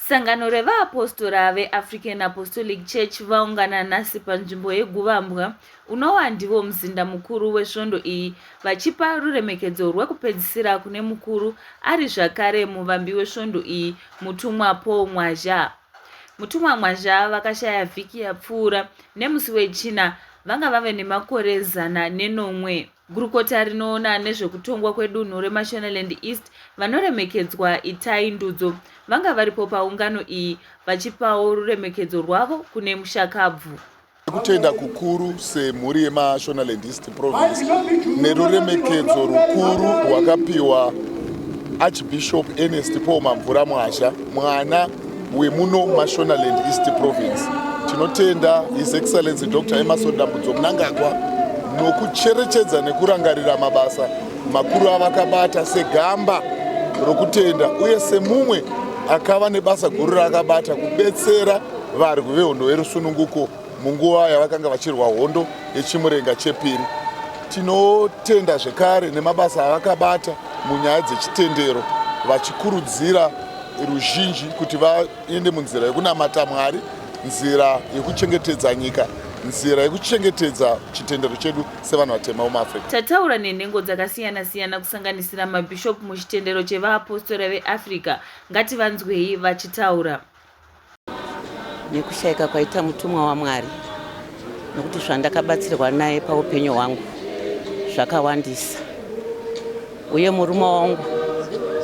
Sangano revaapostora veAfrican Apostolic Church vaungana nhasi panzvimbo yeGuvambwa unowa ndivo muzinda mukuru wesvondo iyi vachipa ruremekedzo rwekupedzisira kune mukuru ari zvakare muvambi wesvondo iyi mutumwa Paul Mwazha. Mutumwa Mwazha vakashaya vhiki yapfuura nemusi weChina vanga vave nemakore zana nenomwe. Gurukota rinoona nezvekutongwa kwedunhu reMashonaland East vanoremekedzwa Itai Ndudzo vanga varipo paungano iyi vachipawo ruremekedzo rwavo kune mushakabvu. Kutenda kukuru semhuri yeMashonaland East Province neruremekedzo rukuru rwakapiwa Archbishop Ernest Paul Mamvura Mwazha mwana wemuno Mashonaland East Province. Tinotenda His Excellency Dr. Emerson Dambudzo Mnangagwa nokucherechedza nekurangarira mabasa makuru avakabata segamba rokutenda uye semumwe akava nebasa guru raakabata kubetsera Varwi vehondo yerusununguko munguva yavakanga vachirwa hondo yechimurenga chepiri. Tinotenda zvekare nemabasa avakabata munyaya dzechitendero vachikurudzira ruzhinji kuti vaende munzira yekunamata Mwari, nzira yekuchengetedza nyika nzira yekuchengetedza chitendero chedu sevanhu vatema muafrica tataura nenhengo dzakasiyana siyana kusanganisira mabhishopu muchitendero chevaapostora veafrica ngativanzwei vachitaura nekushaika kwaita mutumwa waMwari nokuti zvandakabatsirwa naye paupenyu hwangu zvakawandisa uye murume wangu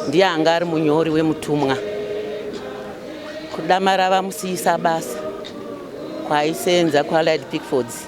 ndiye anga ari munyori wemutumwa kudamara vamusiyisa basa kwaaisenza kuallied pickfords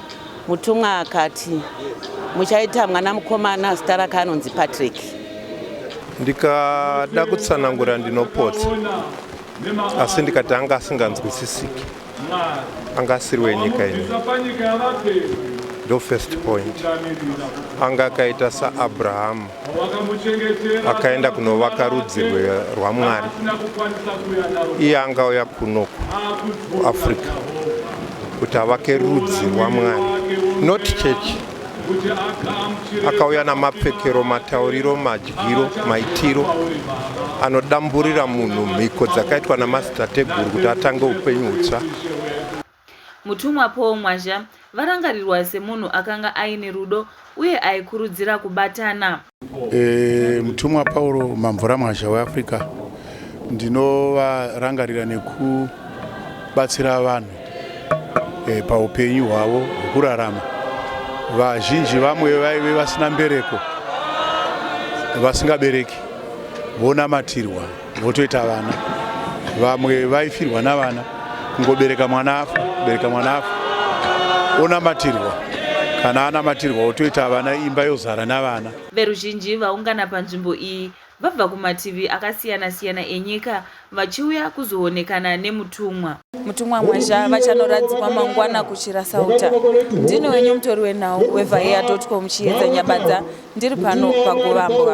Mutumwa akati, Muchaita mwana mukomana, zita rake anonzi Patrick. Ndikada kutsanangura ndinopotsa, asi ndikati anga asinganzwisisiki, anga asiri wenyika ino. Ndo first point, anga akaita saAbrahamu. akaenda kunovaka rudzi rwamwari iye angauya kuno kuafrica kuti avake rudzi rwamwari not church akauya namapfekero matauriro madyiro maitiro anodamburira munhu mhiko dzakaitwa namazitateguru kuti atange upenyu hutsva Mutumwa Paul Mwazha varangarirwa semunhu akanga aine rudo uye aikurudzira kubatana. E, mutumwa Paul Mamvura Mwazha weAfrica ndinovarangarira nekubatsira vanhu e, paupenyu hwavo hwekurarama. Vazhinji vamwe vaive vasina mbereko vasingabereki vonamatirwa. votoita vana vamwe vaifirwa navana kungobereka mwana afa bereka mwana afa onamatirwa kana anamatirwa otoita vana imba yozara navana veruzhinji vaungana panzvimbo iyi vabva kumativi akasiyana-siyana enyika vachiuya kuzoonekana nemutumwa mutumwa mwazha vachanoradzikwa mangwana kuchirasauta ndini wenyu mutori wenhau wevhaiya com chiedza nyabadza Ndiri pano paGovambwa.